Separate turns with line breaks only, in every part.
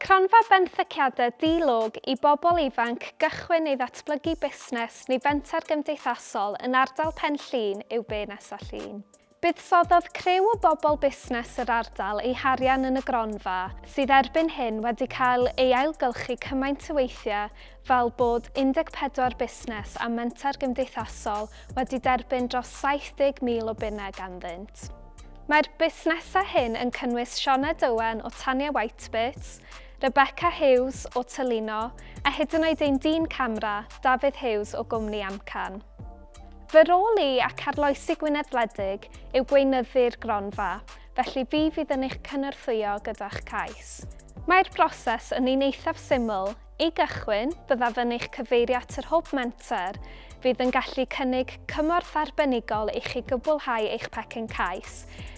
Cronfa Benthyciadau Di-log i bobl ifanc gychwyn neu ddatblygu busnes neu fenter gymdeithasol yn ardal Pen Llŷn yw Be Nesa Llŷn. Buddsoddodd criw o bobl busnes yr ardal eu harian yn y gronfa, sydd erbyn hyn wedi cael ei ailgylchu cymaint o weithiau fel bod 14 busnes a menter gymdeithasol wedi derbyn dros 70,000 o bunnau ganddynt. Mae'r busnesau hyn yn cynnwys Shona Dowen o Tanya Whitebirds, Rebecca Hughes o Tylino a hyd yn oed ein dyn camera, Dafydd Hughes o gwmni Amcan. Fy rôl i, ac arloesi Gwynedd Wledig, yw gweinyddu'r gronfa, felly fi fydd yn eich cynorthwyo gyda'ch cais. Mae'r broses yn un eithaf syml, I gychwyn, byddaf yn eich cyfeirio at yr Hwb Menter, fydd yn gallu cynnig cymorth arbenigol i chi gwblhau eich pecyn cais,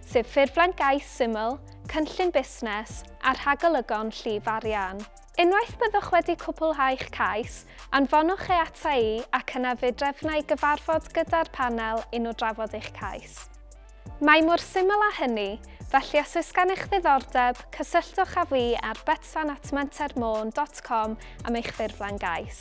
sef ffurflen gais syml, cynllun busnes, a rhagolygon llif arian. Unwaith byddwch wedi cwblhau'ch cais, anfonwch e ata i ac yna fe drefna i gyfarfod gyda'r Panel i nhw drafod eich cais. Mae mor syml â hynny, felly os oes gennych ddiddordeb, cysylltwch â fi ar betsan@mentermôn dot com am eich ffurflen gais.